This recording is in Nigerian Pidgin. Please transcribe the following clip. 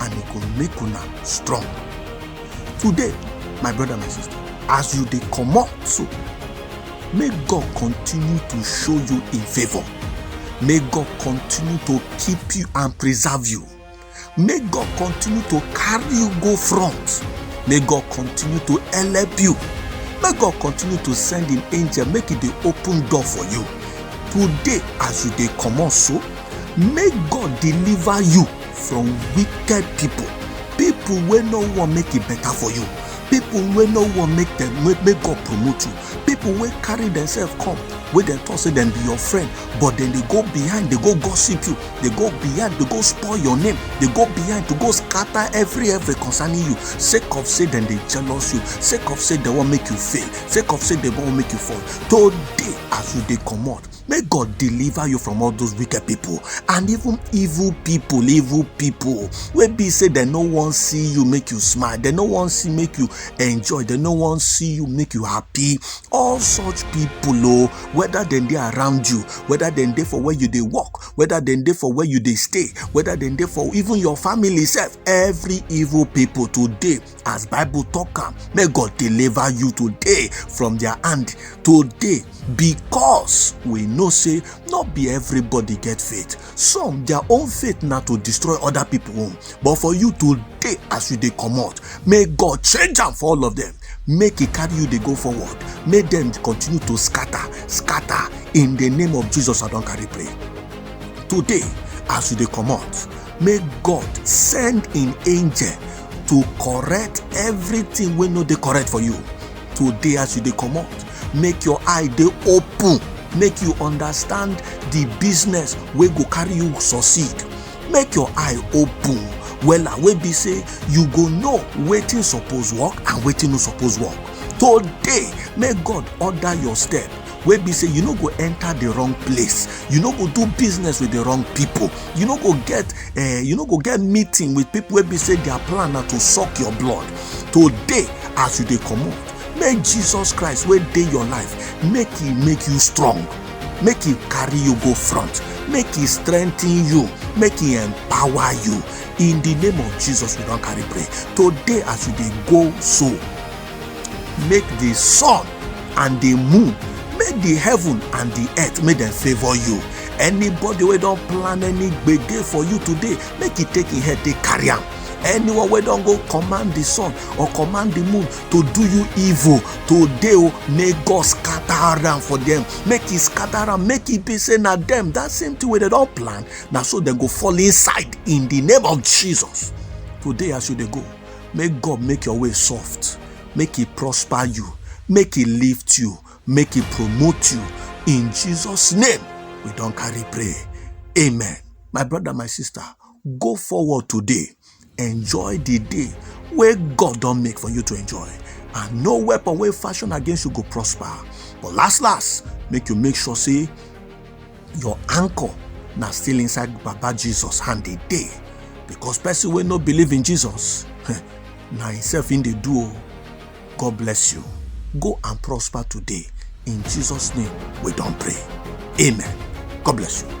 and e go make una strong today my brother my sister as you dey comot so make god continue to show you in favour may god continue to keep you and preserve you may god continue to carry you go front may god continue to help you may god continue to send him angel make e dey open door for you today as you dey comot so make god deliver you from wicked people people wey no wan make e better for you people wey no wan make dem make make god promote you people wey carry themselves come wey dem talk say dem be your friend but dem dey go behind dey go gossip you dey go behind dey go spoil your name dey go behind to go scatter every every concerning you sake of say dem dey jealous you sake of say dem wan make you fail sake of say dem wan make you fall today as you dey comot May God deliver you from all those wicked people and even evil people, evil people. Wey be say they no wan see you make you smile, they no wan see make you enjoy, they no wan see you make you happy. All such people oh, whether dem dey around you, whether dem dey for where you dey work, whether dem dey for where you dey stay, whether dem dey for even your family sef, every evil people today as bible talk am may god deliver you today from their hand today because we know say not be everybody get faith some their own faith na to destroy other people own but for you today as you dey comot may god change am for all of them make e carry you dey go forward make dem continue to scatter scatter in the name of jesus i don carry pray today as you dey comot make god send im angel to correct everything wey no dey correct for you today as you dey comot make your eye dey open make you understand the business wey go carry you succeed make your eye open wella wey be say you go know wetin suppose work and wetin no suppose work today make god order your step wey be say you no go enter the wrong place you no go do business with the wrong people you no go get uh, you no go get meeting with people wey be say their plan na to suck your blood today as you dey comot make jesus christ wey dey your life make he make you strong make he carry you go front make he strengthen you make he empower you in the name of jesus we don carry pray today as you dey go so make the sun and the moon make the heaven and the earth make dem favour you anybody wey don plan any gbege for you today make e take im head take carry am anyone wey don go command the sun or command the moon to do you evil today o oh, may god scatter am for them make e scatter am make e be say na them that same thing wey dem don plan na so dem go fall inside in the name of jesus today as you dey go make god make your way soft make he prosper you make he lift you make he promote you in jesus name we don carry pray amen my brother my sister go forward today enjoy the day wey god don make for you to enjoy and no weapon wey fashion against you go prosper but last last make you make sure say your anchor na still inside baba jesus hand dey dey because person wey no believe in jesus na himself im dey do o god bless you go and prosper today in jesus name we don pray amen god bless you.